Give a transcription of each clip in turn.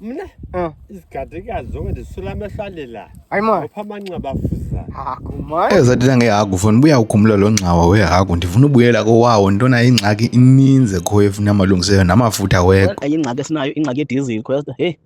mna ah. izigadiga zonke ndisula amehlo alela ayimoya upha amanxeba afuza hagu mani eyo zathetha ngehagu fona ubuya ukhumula lo ngxawa wehagu ndifuna ubuyela kowawo ntona ingxaki ininzi ekhoyo efuna amalungiseyo namafutha weko ingxaki esinayo ingxaki yedizili khoyasta heyi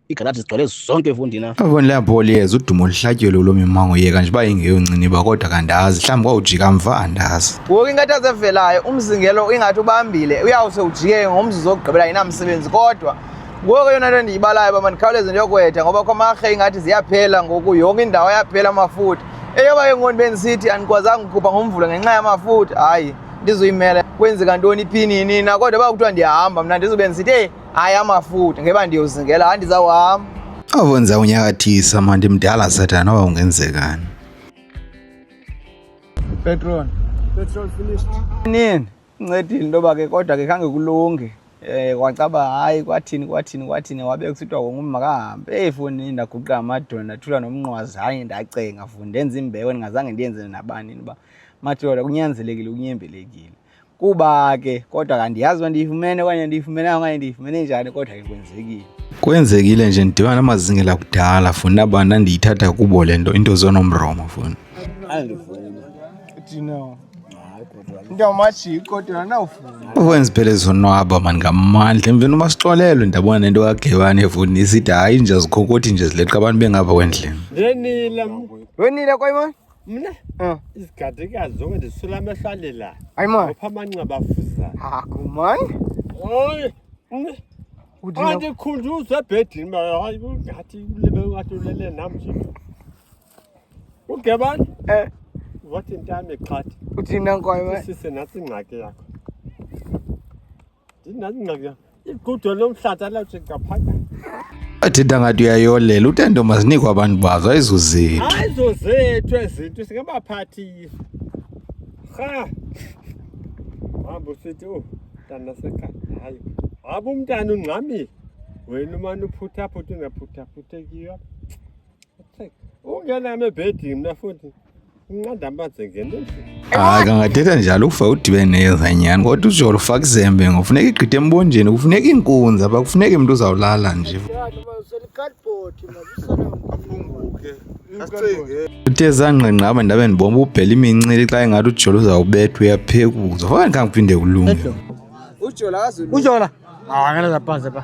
igalaji zigcwele zonke efundini apha avoni leyabholi yeza udumo luhlatyelwe lo mimango yeka nje uba ingeyonciniba kodwa kandazi mhlawumbi kwawujika mva andazi ngoku ingathi azevelayo umzingelo ingathi ubambile uyawuse ujike ngomzuzu okugqibela inamsebenzi kodwa Ngoku eyona nto ndiyibalayo uba mandikhawuleze ndiyokwetha ngoba kwamarhe ingathi ziyaphela ngoku yonke indawo ayaphela amafutha eyoba ke ngoku bendisithi andikwazanga ukukhupha ngomvulo ngenxa yamafutha hayi ndizuyimela kwenzeka ntoni iphinini na kodwa uba kuthiwa ndiyahamba mna ndizube ndisithi eyi hayi amafutha ngeba ndiyozingela hayi ndizawuhamba awenza unyakathisa mna ndimdala sathana noba ungenzekani petrol petrol finished nini Ncedile into yoba ke kodwa ke khange kulunge um kwacaba hayi kwathini kwathini kwathini wabe kusithiwa wonke umntu makahambe eyi foni ndaguqa amadona ndathula nomnqwazi hayi ndacenga funi ndenza imbeko ndingazange ndiyenze nabani uba madoda kunyanzelekile kunyembelekile kuba ke kodwa kandiyazi uba ndiyifumene okanye ndiyifumenanga okanye ndiyifumene njani kodwa ke kwenzekile kwenzekile nje ndidibana namazingela kudala funa abantu ndiyithatha kubo le nto into zonomromo funa andivumi ukwenza phela ezonwaba mani ngamandla emveni uba sixolelwe ndabona nento kagewani evuni isithi hayi nje zikhokothi nje zileqa abantu bengapha kwendlini wenile koyimon mna ah. izigadikazi zonke ndisula amehlo alelayo ayimon opha amanxeba afuzayo haku man oy andikhunjuzwe ebhedini ngathi ulebe ngathi ulele nam nje uge bani eh wathi intame qhathi uthina nkwayo eh? sise nathi ingxaki yakho ndinathi ingxaki yakho igudo lomhlaza lawuthi ngaphakathi athetha ngathi uyayolela utendo mazinikwa abantu bazo ayizozethu ayizozethu ezinto singabaphathile ha hamba usithi o mntana sekhaya hayi hamba umntana ungxamile wena umane uphuthaphutha ungaphuthaphuthe kiyo ungename ebhedini mna futhi unqanda amanzi ngeneni hayi kangathetha njalo ukufa udibene neyeza nyhani kodwa ujolo ufaka izembe ngofuneka igqithe embonjeni kufuneka iinkunzi apha kufuneka imntu uzawulala nje uthe zangqengqaba ndabe ndibomba ubhela imincili xa ingathi ujolo uzawubethwa uyaphekuza faka ndikhange kuphinde kulunge ujola ujola akanazaphanze pha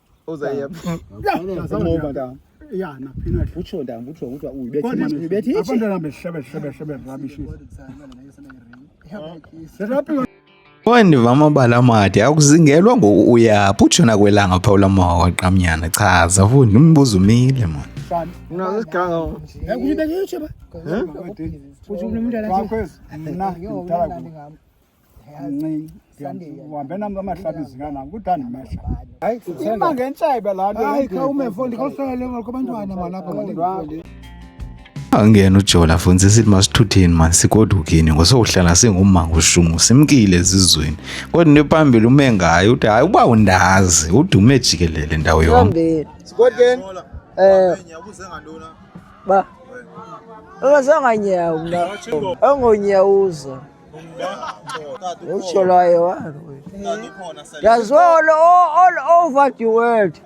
Owandiva amabala amade akuzingelwa ngoku uyaphi utsho nakwelanga phaa ula mawa waqamnyana chaza fundi umbuzo umile mona uhambe nam kamahlabi zinganam kudani mehla ima ngentshebe laa nto hayi khawume fo ndikhohlele kwabantwana malapha angena ujola futhi sithi masithutheni mani sigodukini ngosokuhlala singumanga ushumu simkile ezizweni kodwa into ephambili ume ngayo uthi hayi uba undazi udume jikelele ndawo yonke sigodukeni eh ubuze ngantona ba ungasanganyawula ongonyawuza Utsho lwaye wa. That's all, all, all over the world.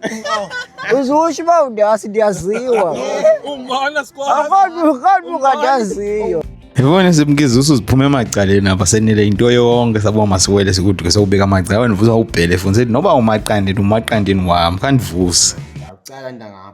Uzusho uba ndiyasi ndiyaziwa. Umbona sikwazi. Akho kanti kandaziyo. Yibona simkiza usuziphuma emacaleni apha senile into yonke sabo masiwele sikuduke sokubeka amacala wena uvusa ubhele funiseti noba umaqandini umaqandini wam khandivuse. Ndiyacela ntangapha.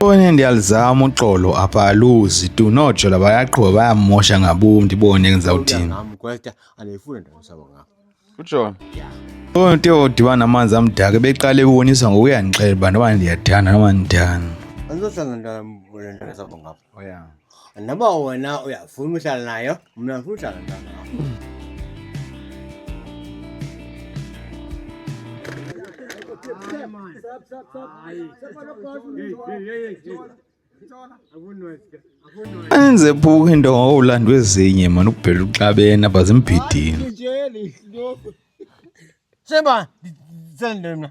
One ndiyalizama uxolo apha aluzi tu nojola bayaqhuba bayamosha ngabom ndibone ndizawuthini ujola oyo nto odibana namanzi amdaka beqale ebonisa ngokuyandixela uba noba ndiyathanda noba ndithanda andizohlala ndala mntana ndazaba ngapha Oh yeah. Noma wena uyafuna uhlala nayo, mna ngifuna uhlala nayo. Enze phuka into ngawulandwa ezinye mani ukubhela uxabene abazimbhidini. Sheba, sendele mna.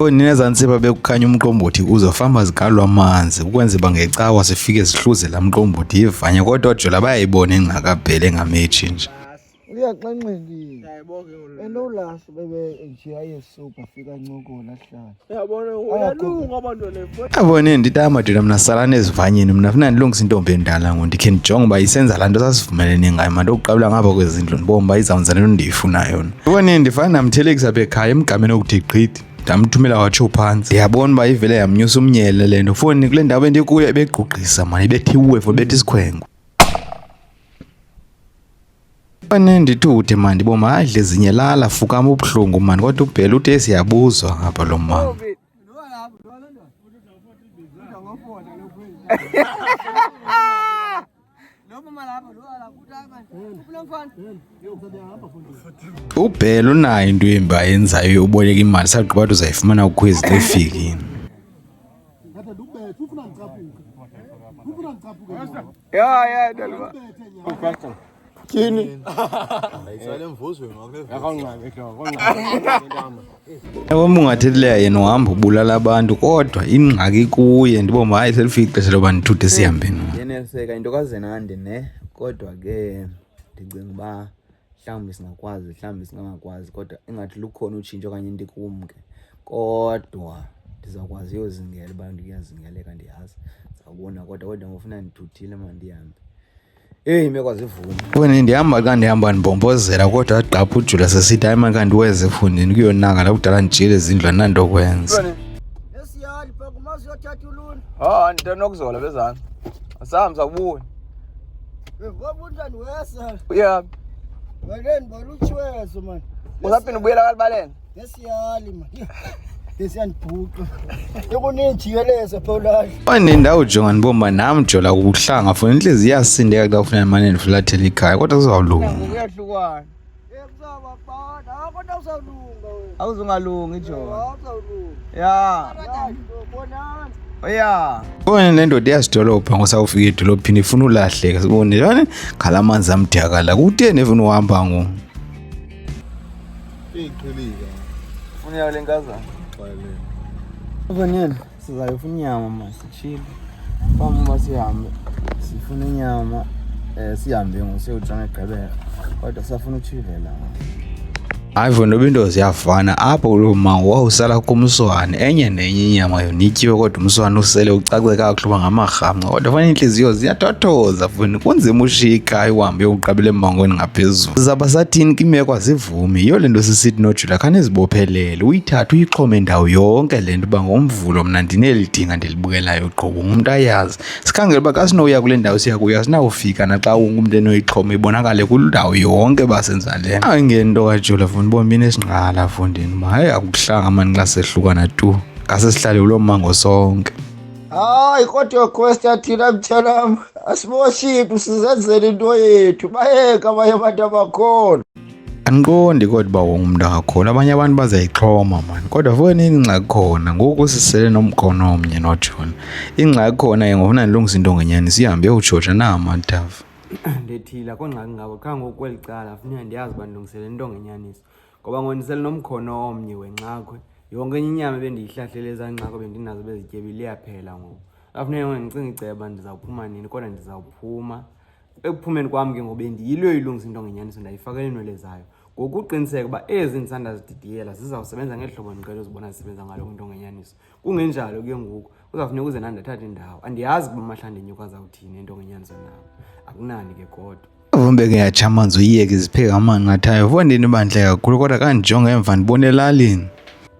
Ninezantsi babekukhanya umqombothi kuzo famba zigalwa amanzi ukwenza uba ngecawa sifike sihluze laa mqombothi yivanya kodwa ojola bayayibona engqakabhele engametshi nje uyaxanxekile enolasi bebe nje ayesuka fika ncokola hlala abone ndita madoda mna salani ezivanyeni mna funa ndilungisa intombi endala ngo ndikhe ndijonge uba isenza laa nto sasivumelene ngayo mna ndokuqabula ngapha kwezindlu ndibombi uba izawunza le nto ndiyifunayo abone ndifana ndamthelekisa apha ekhaya emgameni okuthi gqithi ndamthumela watsho phantsi ndiyabona uba ivele yamnyusa umnyele le nto foni kule ndawo bendikuyo ebegqugqisa mani ibethiwe fo bethi isikhwengo anendithude mani boma adle zinye lala fukama ubuhlungu mani kodwa ubhela uthi esiyabuzwa ngapha lo mama ubhela unayo into embi ayenzayo yokuboleka imali sagqiba uthi uzayifumana kukhwezi lefikini Yeah, yeah, กิน Ewe mungathethi leya yena uhamba ubulala abantu kodwa ingxaki kuye ndibomba hayi selifike ixesha loba ndithuthe sihambe no yeneliseka into kazenandi ne kodwa ke ndicinga uba mhlawumbi singakwazi mhlawumbi singangakwazi kodwa ingathi lukhona utshintsho okanye into ikumke kodwa ndizawukwazi uyozingela uba ndiyazingeleka ndiyazi ndizawubona kodwa kodwa ngofuna ndithuthile mandihambe Eyi imeko azivumi. Wena ndihamba xa ndihamba ndibhombozela kodwa agqapha ujula sesithi hayi makanti weze efundini kuyonaka la kudala ndijile ezindlu ananto kwenza. Nesiyali bhaka umazi uyothatha uluni. Ha ndithe nokuzola bezana. Asahambi sakubuya. Ngoba unjani wesa. Uyaphi? Baleni balutshiwezo mani. Usaphinde ubuyela kalibaleni. Wanendawo jongani bomba nam jola kuhlanga funa inhliziyo iyasindeka xa ufuna imane ndifulathela ikhaya kodwa sizawulunga awuzungalungi jona ya oya ubone le ndoda iyazidolobha ngosawufika edolophini ifuna ulahleka sibone ngala manzi amdyakala kuteni efuna uhamba ngoku Iyiqhilika. Funa yawo lenkazana. Bayileni. Vanele sizayofuna inyama ma sitshile. Bam uba sihambe sifuna inyama eh sihambe ngosiyotshona egqibela. Kodwa safuna utshivela. Hayivo noba into ziyafana apho kuloo mango wawusala kumswane enye nenye inyama yonityiwe kodwa umswane usele ucace kakuhle uba ngamarhamnqa Kodwa fana iintliziyo ziyatothoza funi kunzima ushika iwambe uqabele embangweni ngaphezulu zaba sathini kimeko azivumi yiyo le nto sisithi nojula khanizibophelele uyithathe uyixhome ndawo yonke le nto uba ngomvulo mna ndinelidinga ndilibukelayo qobo ngumntu ayazi sikhangele uba kasinowuya kule ndawo siya kuya sinawufika naxa wonke umntu enoyixhoma ibonakale kundawo yonke basenza le nto ayingento kajula funi bombini esingqala fundini uba hayi akuhlanga mani xa sehlukana tu ngasesihlale kuloo mmango sonke Hayi kodwa Quest yathina mtshanam asimoshiphi sizenzele into yethu bayeka abanye abantu abakhona andiqondi kodwa uba wonke umntu angakhona abanye abantu bazayixhoma mani kodwa fokeni ingxaki khona ngoku sisele nomkhono omnye notshona ingxaki khona ke ngofuna ndilungisa into ngenyani sihambe yokutshotsha na amathafa ndethile akho ngxaki ngabo qha ngoku kweli cala funeka ndiyazi uba ndilungisele into ngenyaniso ngoba ngondisele nomkhono omnye wenxakhwe yonke enye inyama ebendiyihlahlele ezaa nxakho bendinazo bezityebile iyaphela ngoku afuneke ngoku ndicinga iceba ndizawuphuma nini kodwa ndizawuphuma ekuphumeni kwam ke ngoku bendiyilo ilungisa into ngenyaniso ndayifakela iinwele zayo ngokuqiniseka uba ezi ndisandazididiyela zizawusebenza ngeli hlobo ndiqele uzibona zisebenza ngalo kwinto ngenyaniso kungenjalo ke ngoku uzawufuneka uze nandathatha indawo andiyazi kuba amahlanda enyuka azawuthini into ngenyanzo nam akunani ke kodwa Vumbe ke yatsha amanzi uyiyeke zipheka amanqathayo fondini bandle kakhulu kodwa kandijonga emva ndibona elalini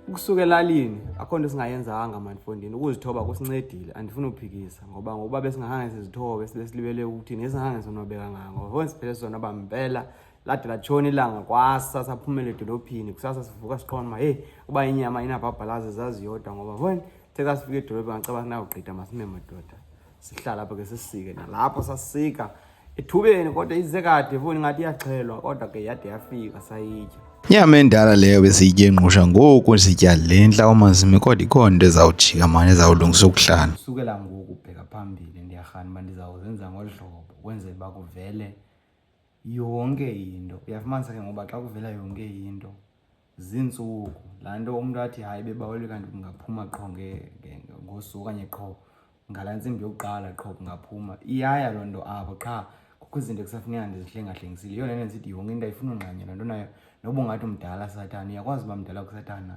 ukusuka elalini akho nto singayenzanga manifondini ukuzithoba kusincedile andifuni uphikisa ngoba ngokuba besingahange sizithobe sibe silibele ukuthi nesingahange sonwabeka ngako foni siphele sonwaba mpela lade latshona ilanga kwasa saphumela edolophini kusasa sivuka siqonda uba heyi uba inyama inabhabhalazi zaziyodwa ngoba voni the xa sifika edolophini ngacaba sinawugqida masime madoda sihlala apha ke sisike nalapho sasika ethubeni kodwa ize kade voni ngathi iyaxhelwa kodwa ke yade yafika sayitya nyama endala leyo besiyitye ngqusha ngoku sitya le ntla omazimi kodwa ikhona into ezawujika mani ezawulungisa ukuhlala kusukela ngoku ubheka phambili ndiyarhani uba ndizawuzenza ngolu hlobo kwenzela uba kuvele yonke into uyafumanisa ke ngoba xa kuvela yonke into ziintsuku laa nto umntu athi hayi bebaweli kanti kungaphuma qho ngosuku okanye qho ngalaa ntsimbi yokuqala qho kungaphuma iyaya loo nto apho qha kukho izinto kusafuneka ndizihlengahlengisile yona nto ndisithi yonke into ayifuna ungqanya loo nto nayo noba ungathi umdala satana uyakwazi uba mdala kusatana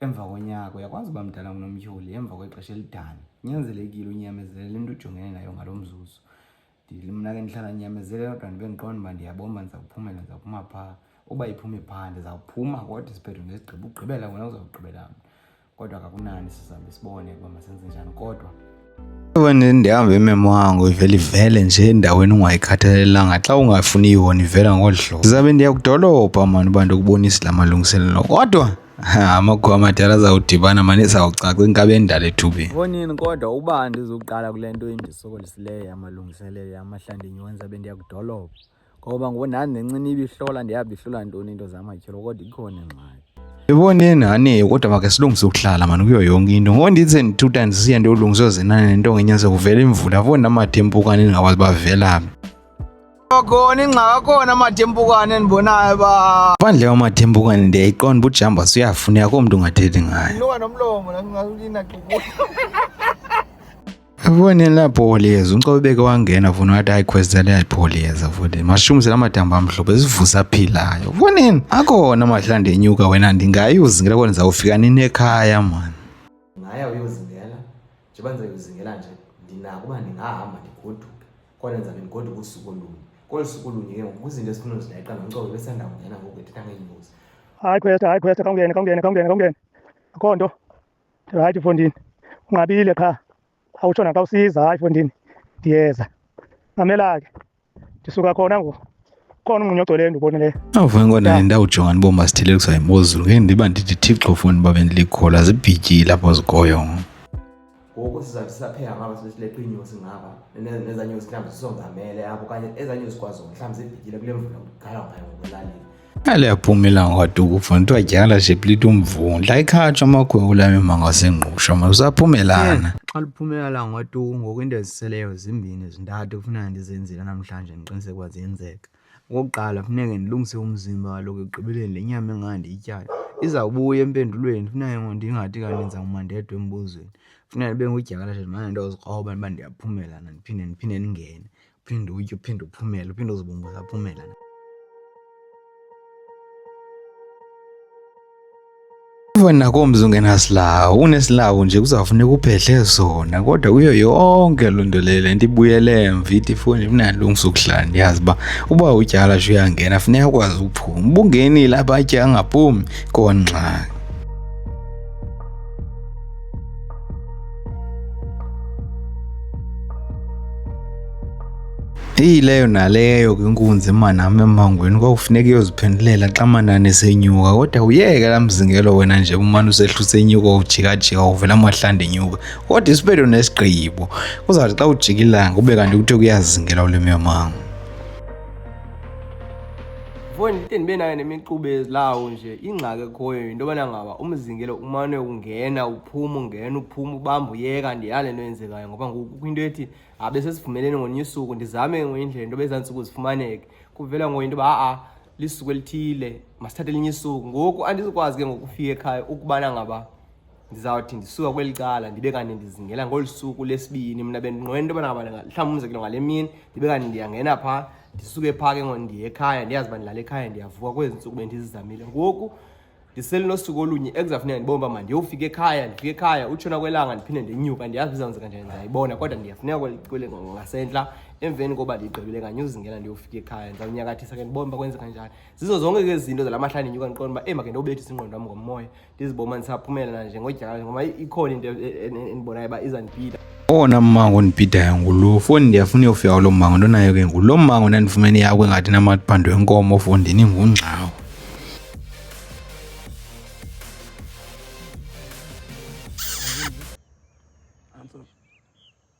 emva konyaka uyakwazi uba mdala ngunomtyholi emva kwexesha elidana kunyanzelekile unyamezelele into ujongene nayo ngalo mzuzu mna ke ndihlala ndinyamezelela kodwa ndibe ndiqonda uba ndiyabomba ndizawuphumela ndizawuphuma phaa uba iphume phaa ndizawuphuma kodwa isiphetho ngesigqiba ugqibela wena uzawugqibela mna kodwa kakunani sizabe sibone uba masenze njani kodwa wena ndihamba imemo wango ivele ivele nje endaweni ungayikhathalelanga xa ungafuni yona ivela ngolu hlobo ndizabe ndiyakudolobha mani uba ndikubonise la malungiselelo kodwa Amakhwama tyala zawudibana mane sawucaca inkabi endala ethubeni. Ngonini kodwa uba ndizoqala kule nto endisokolisileyo yamalungiselelo yamahlandi nyonza bendiyakudolopha ngoba ngoku nani nencini ibihlola ndiyabihlola ntoni into zamatyholo kodwa ikhona ingxaki Iboneni hani kodwa make silungise ukuhlala mani kuyo yonke into ngoba ndithi ndi-two times siya ndiyolungisa ozinane nento ngenyaze kuvela imvula foni namathempukane ndingakwazi bavelaphi khona ingxaka khona amadempukane endibonayo ba phandle kwamadempukane ndiyayiqonda uba ujamba suyafuneka komntu ungathethi ngayo noba nomlomo nangaulina Ubonile lapho Oliyeza uNcobeke wangena funa wathi hayi khweza lapho Oliyeza futhi mashumise lamadamba amhlophe sivusa aphilayo ubonini akona amahlande enyuka wena ndingayuzingela kona zawufika nini ekhaya mani ngaya uyozingela njengoba ndizayozingela nje ndinako uba ndingahamba ndigoduke kwanenza ke ndigodwa kusuku olunye kolu suku olunye ke ngoku izinto ezifuna uzileqa nomcobo besanda kungena ngoku ethetha ngeenyosi hayi khwesta hayi khwesta khawungene khawungene khawungene khawungene akho nto ndirayithi fondini unqabile qha awutsho naxa usiza hayi fondini ndiyeza mamela ke ndisuka khona ngoku khona umunye ogcweleyo ndibonileyo awufanele kona ndawujonga ndibomba sithile kusa imozulu ke ndiba ndithi thixo funi uba bendilikhola zibhityile apho zikhoyo ngoku sizawuthi sisapheka ngaba sileqa iinyosi ngaba nezaa nyosi mhlawumbi sisongamele apho okanye ezaa nyosi kwaziwo mhlawumbi zibhityile kule mvula kugala ngayo ngokulalini aliyaphuma ilanga waduku funa kuthiwa dyala nje plita umvundla ikhatshwa amakhwewu ulame mangasengqusha ma usaphumelana xa liphumelela ngwatuku ngoku into eziseleyo zimbini zintathu kufuneka ndizenzile namhlanje ndiqiniseke uba ziyenzeka. Okokuqala funeke ndilungise umzimba kaloku ekugqibeleni le nyama engaka ndiyityala izawubuya empendulweni. Funeke ngoku ndingathi kanti ndenza umandedwa embuzweni. Funeka ndibe ngudyakalashe ndimane ndiyozikroba uba ndiyaphumela na ndiphinde ndiphinde ndingene. Uphinde uwutye uphinde uphumele, uphinde uzibumbe usaphumela. Even nakomzi ungenasilawu unesilawu nje kuzawufuneka uphehle zona kodwa kuyo yonke loo nto leyo le nto ibuyele emva ithi ifoni mnalungisa ukuhlala ndiyazi uba uba utyala nje uyangena funeka ukwazi ukuphuma ubungenile abatya angaphumi kongxaki Eyi leyo naleyo ke inkunzi manam emangweni kwakufuneka iyoziphendulela xa manani esenyuka kodwa uyeke laa mzingelo wena nje umane usehluse inyuka ujikajika uvela amahlanda enyuka kodwa isiphetho nesigqibo kuzawuthi xa ujika ilanga ube kanti kuthiwa kuyazingelwa ule myomango Mfowethu ndide ndibe nayo nemixube ezilawo nje ingxaki ekhoyo yinto yobana ngaba umzingelo umane ungena uphuma ungena uphuma ubamba uyeka ndiyale nto yenzekayo ngoba ngoku kukho into ethi abe sesivumeleni ngonye usuku ndizame ngonye indlela into yoba ezaa ntsuku zifumaneke kuvela ngoye into yoba a-a lisuku elithile masithathe elinye isuku ngoku andizikwazi ke ngokufika ekhaya ukubana ngaba ndizawuthi ndisuka kweli cala ndibe kanti ndizingela ngolu suku lesibini mna bendinqwena into yobana ngaba mhlawumbi umzekelo ngale mini ndibe kanti ndiyangena phaa ndisuke phaa ke ngoku ndiye ekhaya ndiyazi uba ndilala ekhaya ndiyavuka kwezi ntsuku bendizizamile ngoku ndiselinosuku olunye ekuzafuneka ndibona uba mandiyofika ekhaya ndifika ekhaya utshona kwelanga ndiphinde ndinyuka ndiyazi bizawenzeka njani ndiyayibona kodwa ndiyafuneka ngasentla emveni koba ndigqibile kanye uzingela ndiyofika ekhaya ndizawunyakathisa ke ndibona uba kwenzeka njani zizo zonke ke izinto zala mahla ndinyuka ndiqona uba eyi make ndiyobethisa ingqondo wam ngomoya ndiziboma ndisaphumelela nje ngodyaka ngoba ikhona into endibonayo uba izandibhida owona mmango ondibhidayo ngulo foni ndiyafuna uyofika kulo mmango ntonayo ke ngulo mmango ndandifumene yakho engathi namaphando enkomo fondini ngungxawo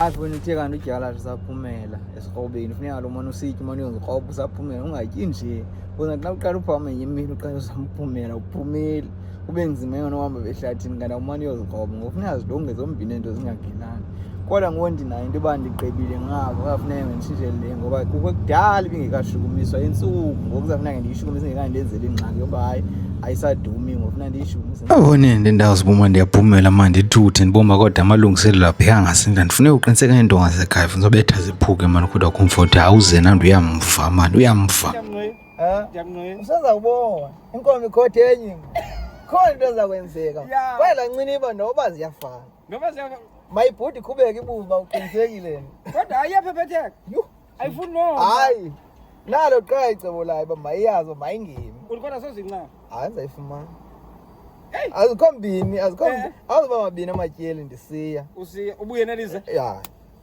apho wena uthe kanti udyala zisaphumela esikrobeni funeka lo mane usitye umane uyozikroba usaphumela ungatyi nje kuze xa uqala uphama enye imini uqala usamphumela uphumeli kube nzima yona uhamba behlathini kanti awumane uyozikroba ngoku funeka zilunge zombini ento zingagelani kodwa ngoku ndinayo into yoba ndigqibile ngabo kafuneka nditshintshele le ngoba kukho kudala ibingekashukumiswa intsuku ngoku zafuneka ndiyishukumise ngekandenzeli ingxaki yoba hayi ayisadumi ngofuna ndiyishukumise abone ndendawo zibuma ndiyaphumela ma ndithuthe ndibomba kodwa amalungiselelo apheka ngasinda ndifuneka uqiniseka iintonga zekhaya funa zobetha ziphuke mani kodwa comfort awuze nandi uyamva mani uyamva usenza kubona inkomo ikhothi enye khona into ezakwenzeka kwaye lanciniba noba ziyafana Ngoba siya mayibhudi iqhubeke ibuba uqinisekile. Kodwa ayiyaphephetha. Yho. Ayifuni no. Hayi. Nalo qha icebo layo uba mayiyazo mayingemi. Ulikhona sozinqa. Hayi ndizayifumana. Hey. Azikho mbini, azikho. Eh. Awuzoba mabini amatyeli ndisiya. Usiya ubuye nelize. Ya.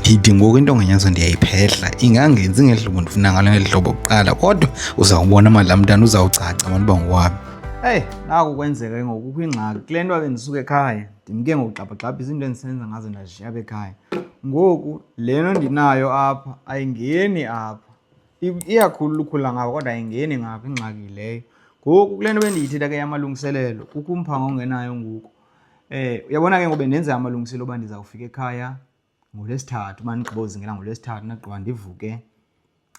ndithi ngoku into nganyazo ndiyayiphehla ingangenzi ngeli hlobo ndifuna ngalo ngeli hlobo kuqala kodwa uzawubona mali laa mntana uzawucaca abantu uba ngowami eyi naku kwenzeka ke ngoku kukho ingxaki kule nto ake ndisuke ekhaya ndimke ngokugxabhagxabha izinto endisenza ngazo ndazishiya apha ekhaya ngoku le nto ndinayo apha ayingeni apha iyakhulu lukhula ngapha kodwa ayingeni ngapha ingxaki leyo ngoku kule nto bendiyithetha ke yamalungiselelo kukho umphanga ongenayo ngoku Eh uyabona ke ngobe ndenze amalungiselelo oba ndizawufika ekhaya ngolwesithathu uba ndigqibozingela ngolwesithathu ndagqiba ndivuke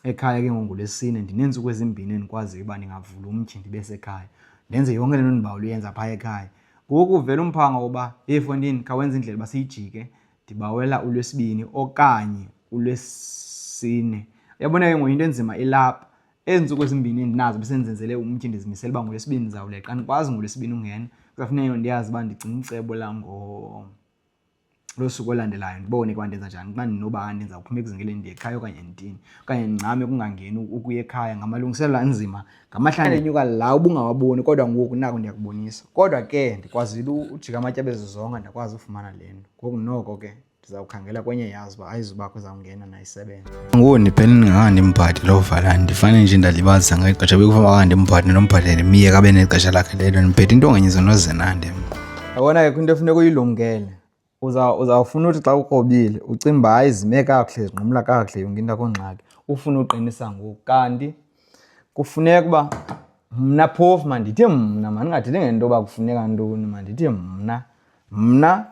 ekhaya ke ngongolwesine ndineentsuku ezimbini endikwaziyo uba ndingavula umtyhi ndibe sekhaya ndenze yonke le nto ndibawula uyenza phaa ekhaya ngoku uvela umphanga woba yeyi fondini khawenza indlela uba siyijike ndibawela ulwesibini okanye ulwesine uyabona ke ngoyinto enzima ilapha ezi ntsuku ezimbini endinazo besendizenzele umtyhi ndizimisele uba ngolwesibini ndizawuleqa andikwazi ngolwesibini ungena kuzafuneka ndiyazi uba ndigcina icebo langosuku olandelayo ndibone kuba ndenza njani xa ndinoba ndenza kuphuma ekuzingeleni ndiye ekhaya okanye nditini okanye ndincame kungangeni ukuya ekhaya ngamalungiselela anzima ngamahlanga enyuka la ubungawaboni kodwa ngoku nako ndiyakubonisa kodwa ke ndikwazile ujika amatyabezizonga ndakwazi ufumana le nto ngoku noko ke ndizawukhangela kwenye yazi uba ayizubakho izawungena nayisebenza ngoku ndiphele ndingaka ndimbhadi loo vala ndifane nje ndalibazisa ngeli xesha bekufanele uba ndimbhadi nombhadele myeka abe nexesha lakhe lelo ndiphethe into ngenye zinozenande yabona ke kwinto efuneka uyilumkele uzawufuna uthi xa ukrobile ucinga uba hayi zime kakuhle zinqumla kakuhle yonke into akho ngxaki ufune uqinisa ngoku kanti kufuneka uba mna phofu mandithi mna mandingathethi ngento yoba kufuneka ntoni mandithi mna Mna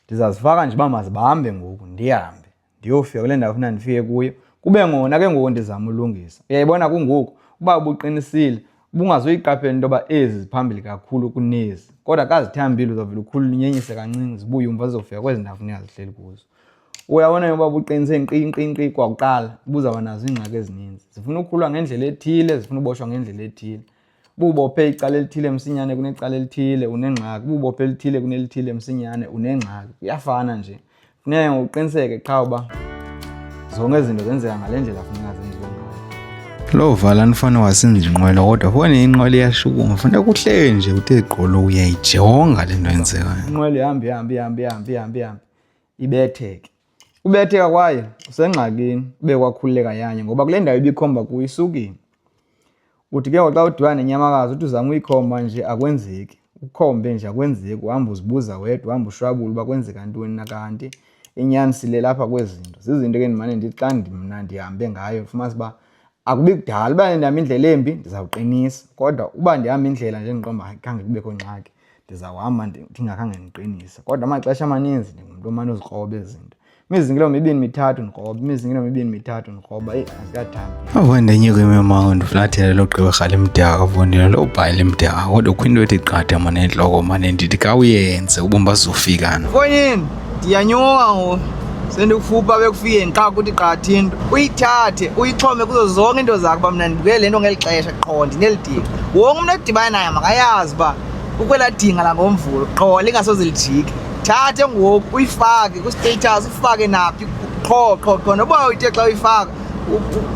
ndizazifaka nje uba mazibahambe ngoku ndihambe ndiyofika kule ndawo funa ndifike kuyo kube ngona ke ngoku ndizama ulungisa uyayibona kungoku uba ubuqinisile ubungazoyiqaphela into yoba ezi ziphambili kakhulu kunezi kodwa kazithambile uzovela ukhulu linyenyise kancinci zibuye umva zizofika kwezi ndawo funeka zihleli kuzo uyabona yoba buqinise nqinqinqi kwakuqala buzawuba nazo iingxaki ezininzi zifuna ukukhulwa ngendlela ethile zifuna uboshwa ngendlela ethile Bubophe icala elithile msinyane kunecala elithile unengxaki. Bubophe elithile kunelithile msinyane unengxaki. Kuyafana nje. Funeka ngokuqiniseke qha uba zonke izinto zenzeka ngale ndlela funeka zenziwe ngayo. Loo vala nifana wasinza inqwela kodwa fone inqwela iyashukuma funeka kuhleli nje uthe gqolo uyayijonga le nto yenzekayo. Inqwela ihamba ihamba ihamba ihamba ihamba ihamba ibetheke. Ubetheka kwaye usengxakini ube kwakhululeka yanye ngoba kule ndawo ibikhomba kuyo isukile. Uthi ke ngoku xa udibana nenyamakazi uthi uzama uyikhomba nje akwenzeki. Ukhombe nje akwenzeki uhamba uzibuza wedwa uhamba ushwabula uba kwenzeka ntoni na kanti inyani sile lapha kwezi zinto. Zizinto ke ndimane ndithi xa mna ndihambe ngayo fumanisa uba akubi kudala uba ndihamba indlela embi ndizawuqinisa kodwa uba ndihamba indlela nje endiqomba hayi khange kubekho ngxaki. ndizawuhamba ndingakhange ndiqinise kodwa amaxesha amaninzi ndingumntu omane uzikroba ezinto imizingelo mibini mithathu ndikroba imizingelo mibini mithathu ndikroba eyi azikathambi avo ndenyuka imimango ndiflathele logqibirha limdaka kavundile lobhayi limdaka kodwa kho into ethi qatha mane entloko mane ndithi kawuyenze ubombazofikana fonyini ndiyanyuka ngoku sendikufupha bekufikeni xa kuthi qatha into uyithathe uyixhome kuzo zonke into zakho uba mna ndibukele le nto ngeli xesha qho ndinelidinga wonke umntu edibane naye makayazi uba ukwela dinga langomvulo qho lingasoze lijike thathe ngoku uyifake kwistatus ufake naphi qho qho qho noba uyithe xa uyifaka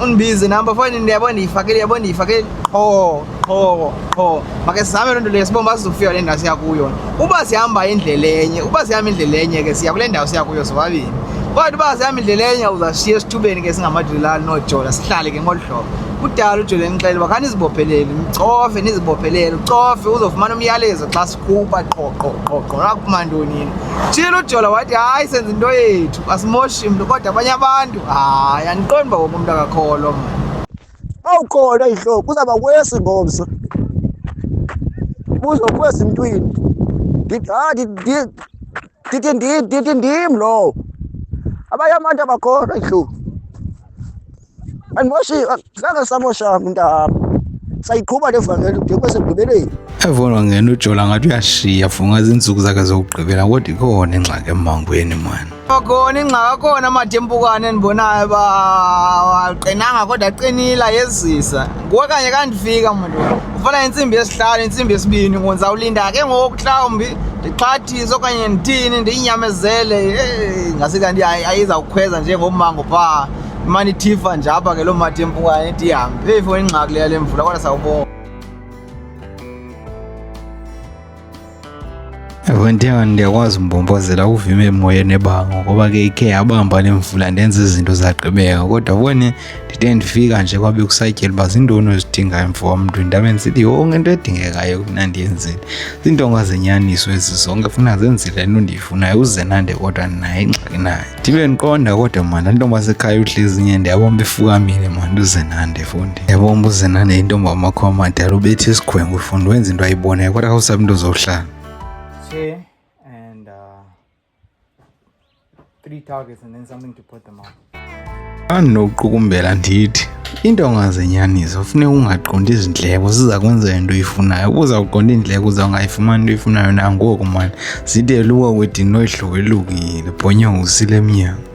undibize namba foni ndiyabo ndiyifakile yabo ndiyifakile qho qho qho make sizame loo nto leyo sibomba sizofika kule ndawo siya kuyo uba sihamba indlela enye uba sihamba indlela enye ke siya kule ndawo siya kuyo sobabini kodwa uba sihamba indlela enye uzashiya esithubeni ke singamadilali noojola sihlale ke ngolu hlobo kudala ujole nixele uba khanizibophelele nicofe nizibophelele ucofe uzofumana umyalezo xa kuba qho qho qho qho akuma ntonini tshilo ujola wathi hayi senza into yethu asimoshi mntu kodwa abanye abantu hayi andiqondi uba wonke umntu akakholwa mna awukhona ihloko kuzawuba kwesi ngomso buzo kwesi mntwini ndithi ndithi ndim lowo abanye abantu abakhona ihloko andimoshi ngake samosha mntaba sayiqhuba le vangeli ude kwasekugqibeleni evonwa ngena ujola ngathi uyashiya funga zinsuku zakhe zokugqibela kodwa ikhona ingxaki emmangweni mani khona ingxaki akhona amadempukane endibonayo uba aqinanga kodwa aqinile ayezisa nguwe kanye kandifika mntu ufana intsimbi yesihlanu intsimbi yesibini ngonzawulinda ke ngoku mhlawumbi ndixhathise okanye ndithini ndiyinyamezele ngase kanti ayizawukhweza njengomango phaa imane ithifa nje apha ke loo mati empukayo eti ihambe phefu ingxaki leya le mvula kodwa sawubona ewe ndiya ndiyakwazi umbombozela uvime emoyeni ebango ngoba ke ikhe yabamba le mvula ndenza izinto zagqibeka kodwa bone ndide ndifika nje kwabe kusatyela uba zintoni ozidingayo mfo wamntu ndabe ndisithi yonke into edingekayo kufuna ndiyenzile ziintonga zenyaniso ezi zonke funa zenzile nto ndiyifunayo uzenande kodwa naye ingxaki nayo ndibe ndiqonda kodwa mani antombi asekhaya uhlezi nye ndiyabomba ifukamile mani uzenande fundi ndiyabomba uzenande intombi amakho amadala ubethi isikhwengu fundi wenza into ayibonayo kodwa khawusabi into zohlala uh, three targets and then something to put them on. Andinokuqukumbela ndithi into ongazenyaniso funeka ungaqondi izindleko ziza kwenzela into oyifunayo uza kuqonda iindleko uza ungayifumani into oyifunayo nangoku mani zide luka kwedini noyihlobo elukile bhonyongo usile emnyango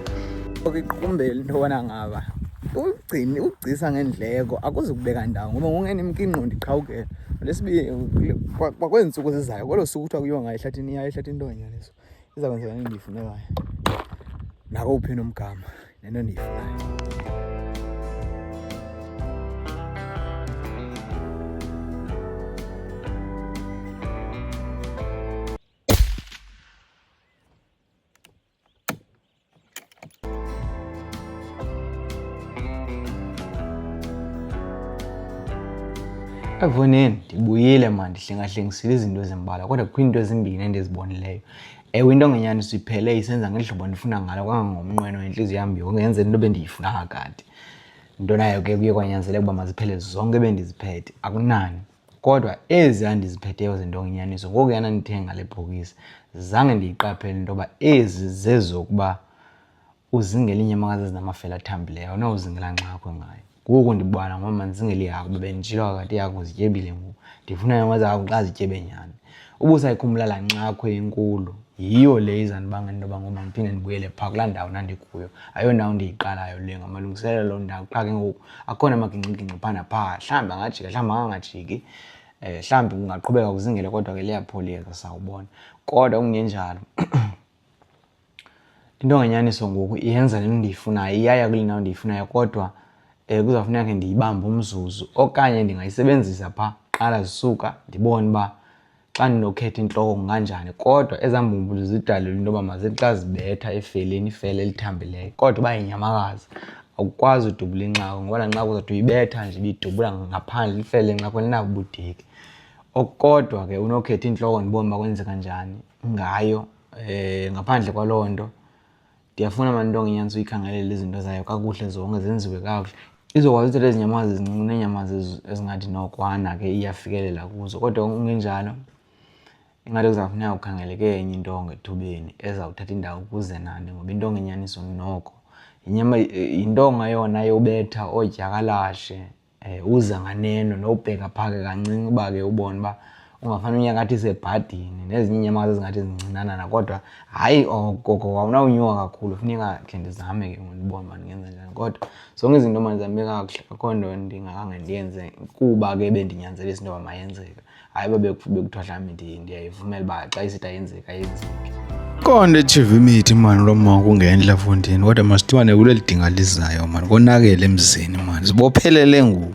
okiqumbela into yobana ngaba ugcini ugcisa ngendleko akuzukubeka ndawo ngoba ngongena imkinqo ndiqhawukela lesibini kwakweentsuku zizayo kwelo suku kuthiwa kuyiwa ngayo ehlathini iya ehlathini into nganyaniso iza kwenzeka endiyifunekayo nakowuphi nomgama nento endiyifunayo ekuboneni ndibuyile ma ndihlengahlengisile izinto ezimbalwa kodwa kukho iinto ezimbini endizibonileyo ewe into ngenyani siphele isenza ngehlobo ndifuna ngalo kangangomnqweno intliziyo yam yonke yenzela into bendiyifuna kakade into nayo ke kuye kwanyanzeleka uba maziphele zonke ebendiziphethe akunani kodwa ezi andiziphetheyo zinto ngenyaniso ngoku yana ndithenga le bhokisi zange ndiyiqaphele into yoba ezi zezokuba uzingela inyamaka zezinamafela athambileyo awunawuzingela nxakho ngayo ngoku ndibona ngoba mandizingela ihagu bebenditshilo kakade ihagu zityebile ngoku ndifuna nyamaka zahagu xa zityebe nyhani ubusayikhumbula laa nxakho enkulu yiyo le izandibanga into yoba ngoba ndiphinde ndibuyele phaa kulaa ndawo ndandikuyo ayondawo ndiyiqalayo le ngamalungiselelo loo ndawo qha ke ngoku akhona amagingxigingxi phaa naphaa mhlawumbi angajika mhlawumbi angangajiki um mhlawumbi kungaqhubeka kuzingele kodwa ke liyapholiyeka sawubona kodwa kungenjalo Into ngenyaniso ngoku iyenza le nto ndiyifunayo, iyaya kule ndawo ndiyifunayo kodwa um kuzawufuneka ke ndiyibambe umzuzu okanye ndingayisebenzisa phaa kuqala zisuka ndibone uba xa ndinokhetha intloko kunganjani kodwa ezaa mbumbulu zidalelwe into yoba mazithi xa zibetha efeleni ifele elithambileyo kodwa uba yinyamakazi awukwazi udubula inxako ngoba laa nxako uzawuthi uyibetha nje ibidubula ngaphandle lifele inxako linabubudeki okukodwa ke unokhetha iintloko ndibone uba kwenzeka njani ngayo um ngaphandle kwaloo nto ndiyafuna mantonga inyaniso uyikhangelele izinto zayo kakuhle zonke zenziwe kakuhle izokwazi uthetha ezinyamazi ezincinci neenyamazi ezingathi nokwana ke iyafikelela kuzo kodwa ungenjalo ingathi kuzawufuneka ukhangeleke enye intonga ethubeni ezawuthatha indawo kuze nani ngoba intonga inyaniso noko yintonga yona yobetha oodyakalashe Eh, uza nganeno nobheka phake kancinci uba ke ubone uba ungafana unyakathi sebhadini nezinye inyamakazi ezingathi zincinanana kodwa hayi okoko oh, awunawunyuka kakhulu funeka khe ndizame ke ndibone uba ndingenza njani kodwa zonke izinto manizambe kakuhle akho nto ndingakange ndiyenze kuba ke bendinyanzelisa into yoba mayenzeka hayi uba bekuthiwa mhlawumbi ndiyayivumela uba xa isithi ayenzeka ayenzeke konde echiva imithi mani lo mama kungenhla fundini kodwa masithiwane kuleli dinga lizayo mani konakele emzini mani zibophelele ngoku